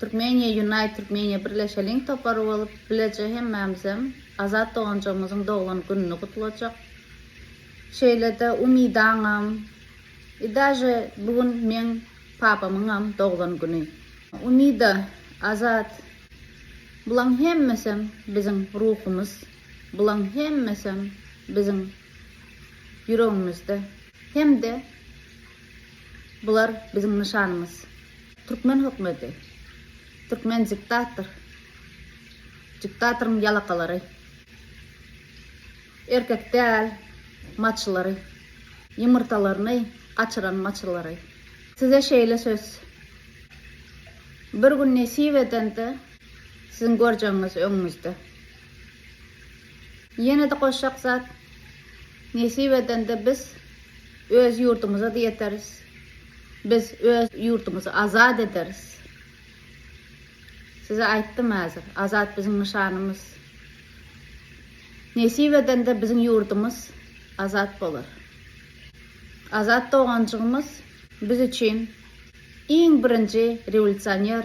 Türkmeniýa Unite Türkmeniýa birleşeliň topary bolup bileje hemmämizem Azat doganjygymyzyň doglan gününi gutlajak. Şeýlede Umydaňam i daže bu gün meň papamyňam doglan güni. Umyda, Azat bulaň hemmesem biziň ruhumyz, bulaň hemmesem biziň ýüregimizde hem-de bular biziň nyşanymyz. Türkmen hökmedi. Türkmen diktator. Diktatoryň ýalakalary. Erkek däl maçlary. Ýumurtalaryny gaçyran maçlary. Size şeýle söz. Bir gün nesip edende siziň görjegiňiz öňüňizde. Ýene-de goşjak zat, nesip edende biz öz ýurdumyza-da ýeteris, biz öz ýurdumyzy azat ederis. Size aýtdym häzir, azat biziň nyşanymyz. Nesip edende biziň ýurdumyz azat bolar. Azat doganjygymyz biz üçin iň birinji rewolýusioner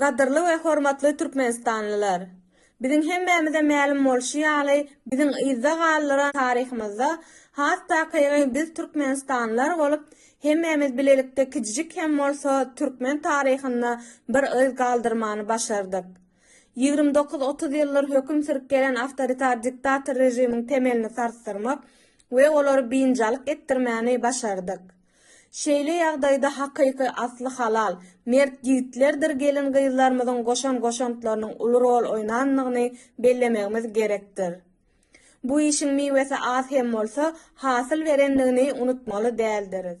Gadyrly we hormatly türkmenistanlylar! Biziň hemmämize mälim bolşy ýaly, biziň yzda galdyran taryhymyzda has takygy biz türkmenistanlylar bolup, hemmämiz bilelikde kijijik hem bolsa türkmen taryhynda bir yz galdyrmany başardyk. Ýigrimi dokuz, otuz ýyldyr höküm sürüp gelen awtoritar diktator režimiň temelini sarsdyrmak we olary biynjalyk etdirmäni başardyk. Şeýle ýagdaýda hakyky asly halal, mert ýigitlerdir gelin-gyzlarymyzyň goşan goşantlarynyň uly rol oýnandygyny bellemegimiz gerekdir. Bu işiň miwesi az hem bolsa, hasyl berendigini unutmaly däldiris.